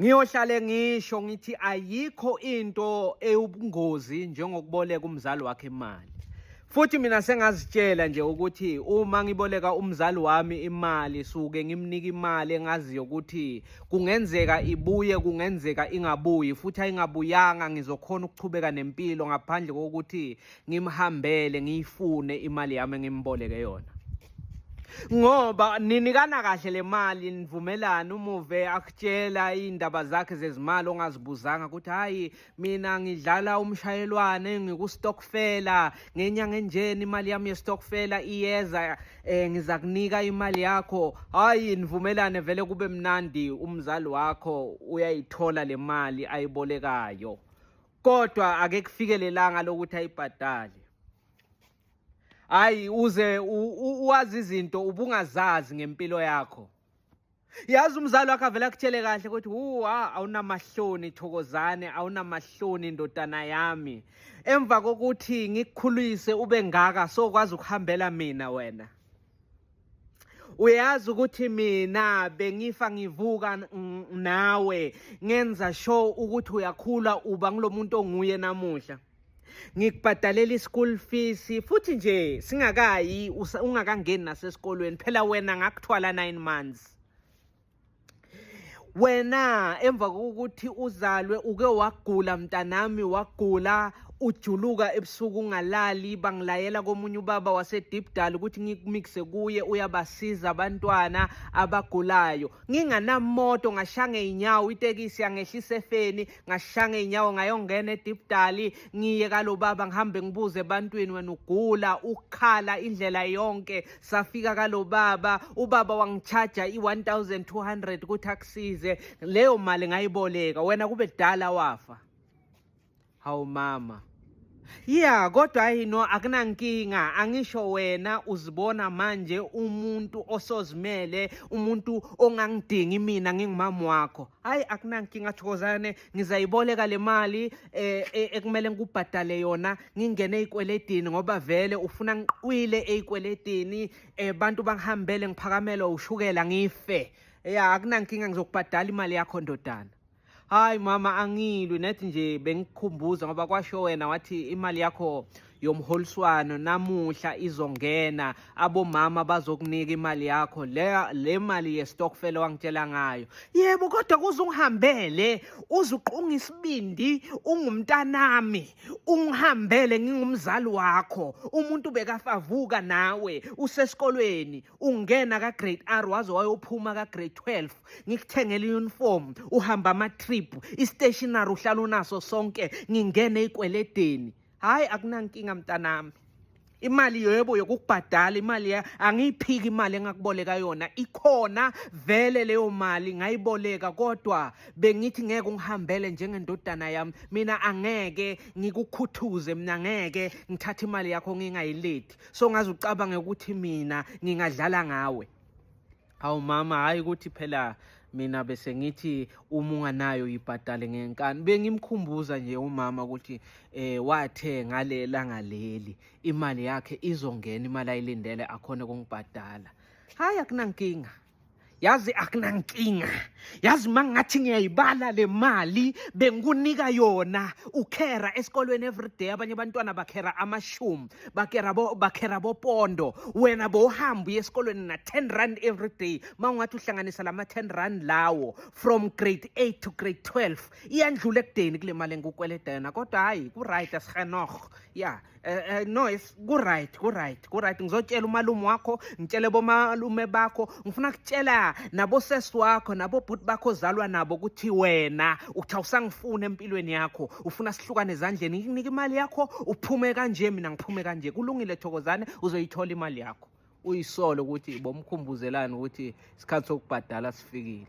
Ngiyohlale ngisho ngithi ayikho into eyubungozi njengokuboleka umzali wakhe imali. Futhi mina sengazitshela nje ukuthi uma ngiboleka umzali wami imali suke ngimnika imali engaziyo ukuthi kungenzeka ibuye kungenzeka ingabuyi futhi ayingabuyanga ngizokhona ukuchubeka nempilo ngaphandle kokuthi ngimhambele ngiyifune imali yami engimboleke yona. ngoba ninikana kahle le mali nivumelana umuve akutshela iy'ndaba zakhe zezimali ongazibuzanga ukuthi hhayi mina ngidlala umshayelwane ngikustokfela ngenyanga enjeni imali yami yestokfela iyeza um ngiza kunika imali yakho hhayi nivumelane vele kube mnandi umzali wakho uyayithola le mali ayibolekayo kodwa ake kufikelelanga lokuthi ayibhadale hayi uze uwazi izinto ubungazazi ngempilo yakho yazi umzali wakho avele akuthele kahle ukuthi wuwa awunamahloni thokozane awunamahloni ndodana yami emva kokuthi ngikukhulise ube ngaka sokwazi ukuhambela mina wena uyazi ukuthi mina bengifa ngivuka nawe ngenza sure ukuthi uyakhula uba ngulomuntu onguye namuhla ngikubhadalela i-school fees futhi nje singakayi ungakangeni nasesikolweni phela wena ngakuthwala nine months wena emva kokuthi uzalwe uke wagula mntanami wagula ujuluka ebusuku ungalali bangilayela komunye ubaba wasedipdal ukuthi ngikumixe kuye uyabasiza abantwana abagulayo nginganamoto ngashanga iy'nyawo itekisi yangehlisa efeni ngashaya ngey'nyawo ngayongena edibdali ngiye kalobaba ngihambe ngibuze ebantwini wena ugula ukukhala indlela yonke safika kalobaba ubaba wangitshaja i-1200 ukuthi akusize leyo mali ngayiboleka wena kube kudala wafa hawu mama Yeah kodwa hayi no akunankinga angisho wena uzibona manje umuntu osozimele umuntu ongangidingi mina ngingumama wakho hayi akunankinga thokozane ngizayiboleka le mali eh, eh ekumele ngikubhadale yona ngingene ezikweletini ngoba vele ufuna ngiqwile ezikweletini eh bantu bangihambele ngiphakamelo ushukela ngife yeah akunankinga ngizokubhadala imali yakho ndodana Hayi mama angilwi nethi nje bengikhumbuza ngoba kwasho wena wathi imali yakho yomholiswano namuhla izongena abomama bazokunika imali yakho le le mali yestokfel wangitshela ngayo yebo kodwa kuze ungihambele uzuqunga isibindi ungumntanami ungihambele ngingumzali wakho umuntu bekafavuka nawe usesikolweni ungena ka-grade r waze wayophuma ka-grade 12 ngikuthengele i-uniform uhamba ama-trip i-stationary uhlala unaso sonke ngingene ey'kweledeni hhayi akunankinga mntanami imali yebo yokukubhadala imali angiyiphiki imali engakuboleka yona ikhona vele leyo mali ngayiboleka kodwa bengithi ngeke ungihambele njengendodana yami mina angeke ngikukhuthuze mina ngeke ngithathe imali yakho ngingayilethi so ngaze ucabange ukuthi mina ngingadlala ngawe hawu mama hhayi ukuthi phela mina bese ngithi uma unganayo yibhadale ngenkani bengimkhumbuza nje umama ukuthi eh wathe ngalela ngaleli imali yakhe izongena imali ayilindele akhona kungibhadala hayi akunankinga yazi akunankinga yazi uma ngathi ngiyayibala le mali bengikunika yona ukhera esikolweni everyday abanye abantwana bakhera amashumi bakera bo bakhera bopondo wena bowuhamba uye esikolweni na 10 rand everyday mawungathi uhlanganisa lama 10 rand lawo from grade 8 to grade 12 iyandlula ekudeni kule mali engikweleda yona kodwa hayi ku right asihenoh yeah Eh, eh, no yes kuright kuright kuright ngizotshela umalume wakho ngitshele bomalume bakho ngifuna kutshela nabosesi wakho nabobhuti bakho ozalwa nabo ukuthi wena uthi awusangifuni empilweni yakho ufuna sihlukane ezandleni ngikunike imali yakho uphume kanje mina ngiphume kanje kulungile thokozane uzoyithola imali yakho uyisole ukuthi bomkhumbuzelani ukuthi isikhathi sokubhadala sifikile